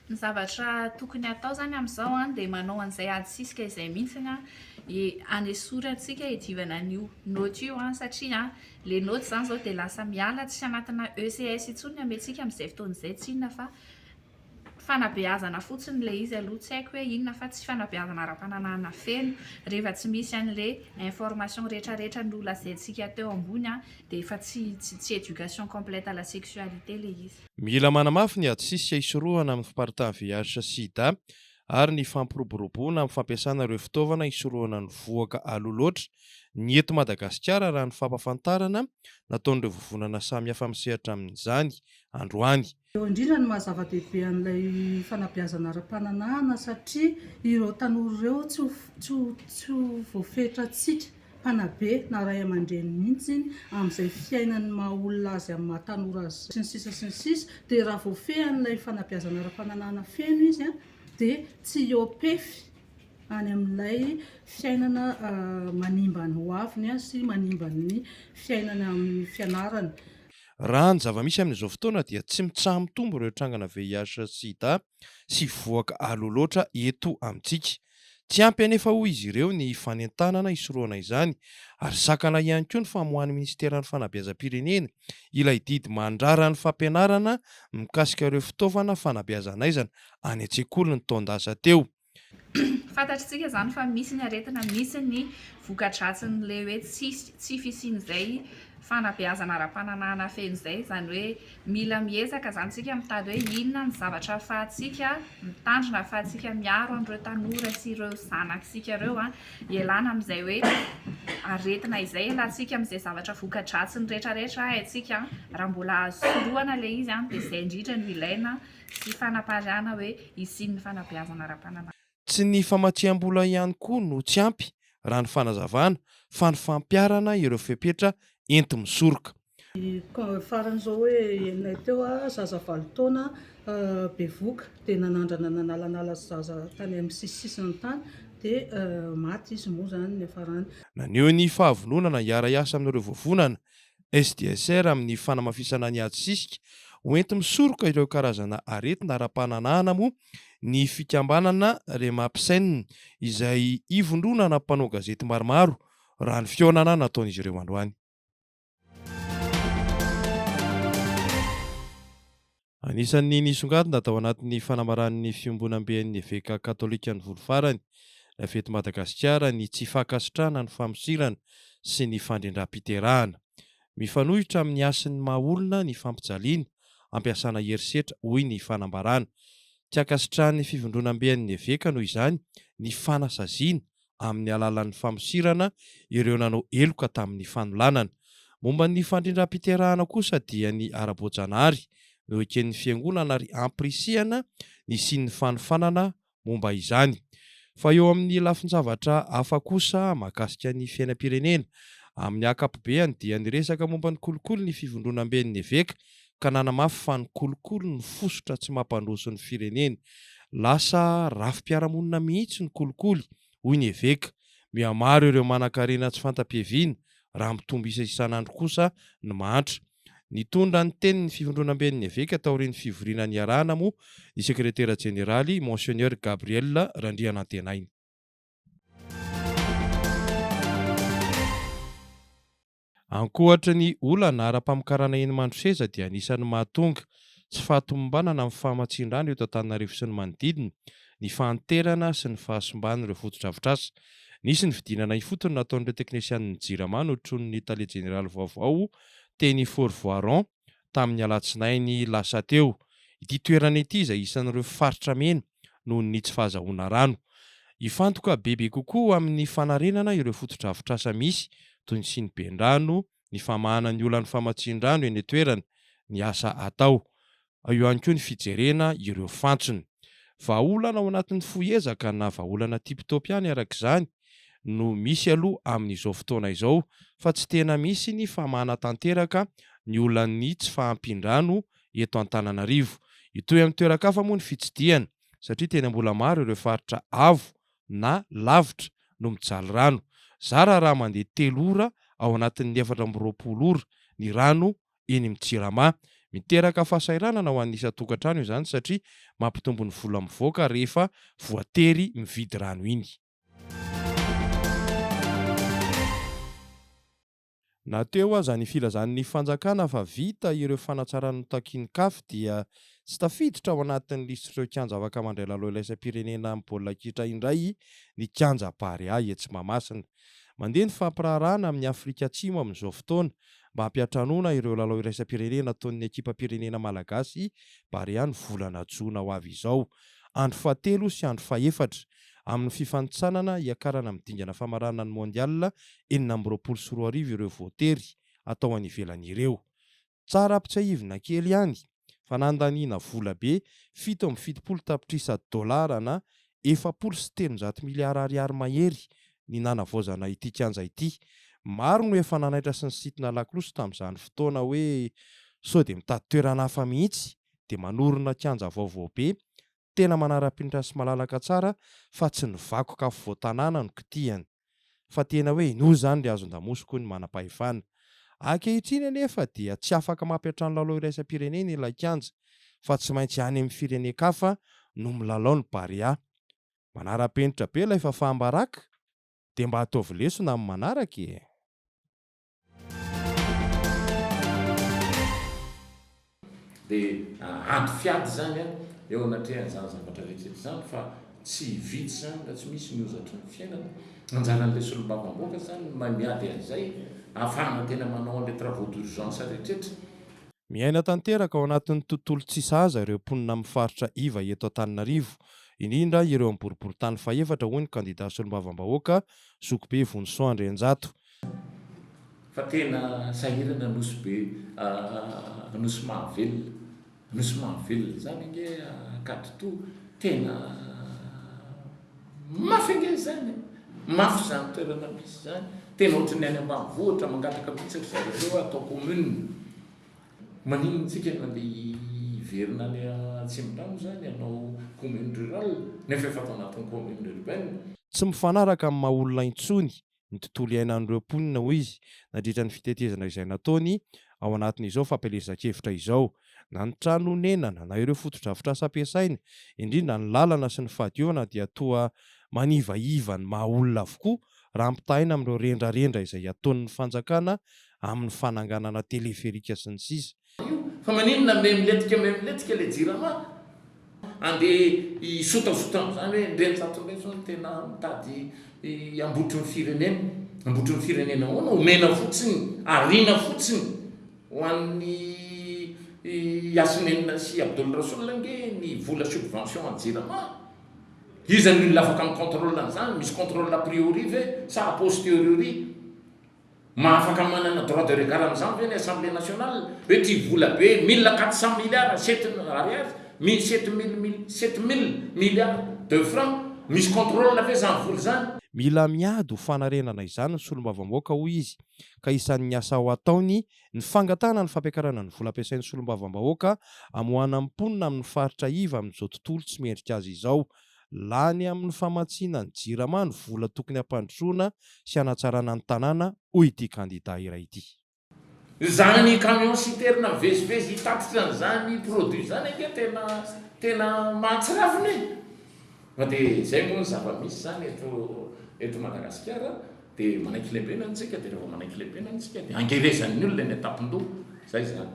Ny zavatra tokony hatao izany amin'izao dia manao an'izay adisisika izay mihitsy ny hanesorantsika hiadivana an'io note io satria ilay note izany izao dia lasa miala tsy anatina ECS intsony ny hamentsika amin'izay fotoana izay, tsy inona fa. Fanabeazana fotsiny ilay izy aloha, tsy haiko hoe inona fa tsy fanabeazana ara-pananahana feno, rehefa tsy misy an'ilay information retraretra nolazaintsika teo ambony dia efa tsy tsy éducation complète à la sexualité ilay izy. Mila manamafy ny ady sisika hisorohana ny fiparitahan'ny VIH-Sida ary ny fampiroboroboana amin'ny fampiasana ireo fitaovana hisorohana ny vohoka aloha loatra ny eto Madagasikara raha ny fampafantarana nataon'ireo vovonana samihafa misehatra amin'izany androany. Eo indrindra ny maha-zava-dehibe an'ilay fanabeazana ara-pananahana satria ireo tanora ireo tsy ho, tsy ho, tsy ho voafetrantsika mpanabe na ray aman-dreny mihitsy amin'izay fiainan'ny maha-olona azy amin'ny maha-tanora azy sy ny sisa sy ny sisa dia raha voafehy an'ilay fanabeazana ara-pananahana feno izy dia tsy hiopefy any amin'ilay fiainana manimba ny hoaviny sy manimba ny fiainany amin'ny fianarany. Raha ny zava-misy amin'izao fotoana dia tsy mitsaha-mitombo ireo trangana VIH sy Sida sy vohoka aloha loatra eto amintsika. Tsy ampy anefa hoy izy ireo ny fanentanana hisorohana izany ary sakana ihany koa ny famoahan'ny minisiteran'ny fanabeazam-pirenena ilay didy mandrara ny fampianarana mikasika ireo fitaovana fanabeazan'aizana any an-tsekoly ny taon-dasa teo. Fantatr'tsika izany fa misy ny aretina, misy ny vokadratsin'ilay hoe tsy tsy fisian'izay fanabeazana ara-pananahana feno izay, izany hoe mila miezaka izany isika mitady hoe inona ny zavatra ahafahantsika mitandrina, ahafahantsika miaro an'ireo tanora sy ireo zanak'isika ireo an, ialana amin'izay hoe aretina izay, ialatsika amin'izay zavatra vokadratsiny rehetrarehetra haintsika an, raha mbola azo sorohana ilay izy an dia izay indrindra no ilaina sy fanapariahana hoe hisian'ny fanabeazana ara-pananahana. Tsy ny famatsiam-bola ihany koa no tsy ampy, raha ny fanazavana, fa ny fampiharana ireo fepetra enti-misoroka. Ny farany izao hoe henonay teo, zaza valo taona bevoka, dia nanandrana nanalanala zaza tany amin'ny sisisisiny tany, dia maty izy moa izany niafarany. Naneho ny fahavononana hiara-hiasa amin'ireo vovonana SDSR amin'ny fanamafisana ny ady sisika ho enti-misoroka ireo karazana aretina ara-pananahana moa ny fikambanana Remapsen izay ivondronana mpanao gazety maromaro raha ny fihaonana nataon'izy ireo androany. Anisan'ny nisongadina tao anatin'ny fanamaran'ny fiombonamben'ny eveka katolikan'i Volo Farany, Navety Madagasikara, ny tsy fankasitrahana ny famosirana sy ny fandrindram-piterahana. Mifanohitra amin'ny hasin'ny maha olona ny fampijaliana, ampiasana herisetra, hoy ny fanambarana. Tsy ankasitrahan'ny fivondronamben'ny eveka noho izany ny fanasaziana amin'ny alalan'ny famosirana ireo nanao heloka tamin'ny fanolanana. Momba ny fandrindram-piterahana kosa dia ny ara-boajanahary no eken'ny fiangonana ary ampirisihana ny hisian'ny fanofanana momba izany. Fa eo amin'ny lafin-javatra hafa kosa mahakasika ny fiainam-pirenena, amin'ny akapobeany dia niresaka momba ny kolikoly ny Fivondronamben'ny Eveka ka nanamafy fa ny kolikoly no fositra tsy mampandroso ny firenena. Lasa rafi-piarahamonina mihitsy ny kolikoly, hoy ny eveka. Mihamaro ireo manankarena tsy fanta-piaviana, raha mitombo isa isan'andro kosa ny mahantra. Nitondra ny teniny ny fivondronamben'ny eveka taorian'ny fivoriana niarahana moa ny sekretera jeneraly, Monseigneur Gabriel Randrianantenaina. Ankoatry ny olana ara-pamokarana eny Mandroseza dia anisan'ny mahatonga tsy fahatomombanana amin'ny famatsian-drano eto Antananarivo sy ny manodidina ny fahanterana sy ny fahasimban'ireo fotodrafitrasa. Nisy ny fidinana ifotony nataon'ireo teknesianin'ny Jirama notronin'ny tale jeneraly vaovao teny Fort Voiron. tamin'ny alatsinainy lasa teo, ity toerana ity izay isan'ireo faritra mena noho ny tsy fahazahoana rano. Hifantoka bebe kokoa amin'ny fanarenana ireo fotodrafitrasa misy, toy ny siniben-drano, ny famahana ny olan'ny famatsian-drano eny an-toerana, ny asa atao. Ao ihany koa ny fijerena ireo fantsona. Vahaolana ao anatin'ny fohy ezaka na vahaolana tip-top ihany araka izany no misy aloha amin'izao fotoana izao fa tsy tena misy ny famahana tanteraka ny olan'ny tsy fahampian-drano eto Antananarivo. Hitohy amin'ny toeran-kafa moa ny fitsidihana satria tena mbola maro ireo faritra avo na lavitra no mijaly rano. Zara raha mandeha telo ora ao anatin'ny efatra amby roapolo ora ny rano eny amin'ny Jirama. Miteraka fahasahiranana ho an'ny isan-tokantrano izany satria mampitombo ny vola mivoaka rehefa voatery mividy rano iny. Na teo aza ny filazan'ny fanjakana fa vita ireo fanatsarana notakin'ny Caf dia tsy tafiditra ao anatin'ny lisitr'ireo kianja afaka mandray lalao iraisam-pirenena amin'ny baolina kitra indray ny kianja Barea etsy Mahamasina. Mandeha ny fampiraharahana amin'i Afrika Atsimo amin'izao fotoana mba hampiantranoana ireo lalao iraisam-pirenena ataon'ny ekipam-pirenena malagasy Barea ny volana jona ho avy izao, andro fahatelo sy andro fahefatra amin'ny fifanintsanana hiakarana amin'ny dingana famaranana ny Mondial enina amby roapolo sy roa arivo ireo voatery hatao any ivelany ireo. Tsara ampitsiahivina kely ihany fa nandaniana vola be fito amby fitopolo tapitrisa dolara na efapolo sy telonjato miliara ariary mahery ny nanavaozana ity kianja ity. Maro no efa nanaitra sy nisintona lakolosy tamin'izany fotoana hoe sao dia mitady toerana hafa mihitsy dia manorina kianja vaovao be tena manara-penitra sy malalaka tsara fa tsy ny vakoka afovoan-tanàna no kitihany, fa tena hoe inoa izany ry hazon-damosy koa ny manam-pahefana. Ankehitriny anefa dia tsy afaka mampiantrano lalao iraisam-pirenena ilay kianja, fa tsy maintsy any amin'ny firenen-kafa no milalao ny Barea. Manara-penitra be ilay fahafaham-baraka, dia mba ataovy lesona amin'ny manaraka e! Dia ady fiady izany eo anatrehan'izany zavatra rehetra izany fa tsy vitsy izany raha tsy misy ny hozatry ny fiainana. Anjaran'ilay solombavambahoaka izany ny mahay miady an'izay ahafahana tena manao an'ilay travaux d'urgence rehetra. Miaina tanteraka ao anatin'ny tontolo tsy sahaza ireo mponina amin'ny faritra iva eto Antananarivo, indrindra ireo amin'ny boriborintany fahefatra, hoy ny kandida solombavambahoaka, Zokibe Vonisoa Andrianjato. Fa tena sahirana Nosy be ah Nosy mahavelona Nosy mahavelona zany ange Ankaditoa tena mafy ange zany e mafy zany toerana misy zany tena ohatry ny any ambanivohitra mangataka mihitsy ry zareo reo hoe atao commune maninona tsika no andeha hiverina any Atsimondrano zany hanao commune rurale nefa efa tao anatin'ny commune urbaine. Tsy mifanaraka amin'ny maha olona intsony ny tontolo iainan'ireo mponina, hoy izy, nandritra ny fitetezana izay nataony ao anatin'izao fampielezan-kevitra izao, na ny trano onenana, na ireo fotodrafitrasa ampiasaina, indrindra ny lalana sy ny fahadiovana dia toa manivaiva ny maha olona avokoa raha ampitahaina amin'ireo rendrarendra izay ataon'ny fanjakana amin'ny fananganana teleferika sy ny sisa. io fa maninona memletika memletika le jirama ande hisotasota amzany hoe ndre ny zato ndray zao no tena mitady hambotry ny firenena hambotry ny firenena ahoana omena fotsiny ariana fotsiny ho an'ny yasinenina sy abdoul rasoul ange ny vola subvention an'ny jirama iza ny olona afaka mi controle an'zany misy controle a priori ve sa a posteriori Mahafaka manana droit de regard amin'izany ve ny Assemblée nationale? Hoe ity vola be mille quatre cent milliards sept ariary mille sept mille mille sept mille milliards de francs misy contrôle ve izany vola izany? Mila miady ho fanarenana izany ny solombavambaoka hoy izy ka isan'ny asa ho ataony ny fangatahana ny fampiakarana ny vola ampiasain'ny solombavambahoaka amoahana ny mponina amin'ny faritra iva amin'izao tontolo tsy mendrika azy izao Lany amin'ny famatsiana ny Jirama ny vola tokony hampandrosoana sy hanatsarana ny tanàna, hoy ity kandida iray ity. Izany ny camion citerne mivezivezy hitatitra an'izany produit izany ange tena tena mahatsiravina e! Fa dia izay moa ny zava-misy izany eto eto Madagasikara dia manaiky lembenana isika dia rehefa manaiky lembenana isika dia angerezan'ny olona eny an-tampon-doha, izay izany.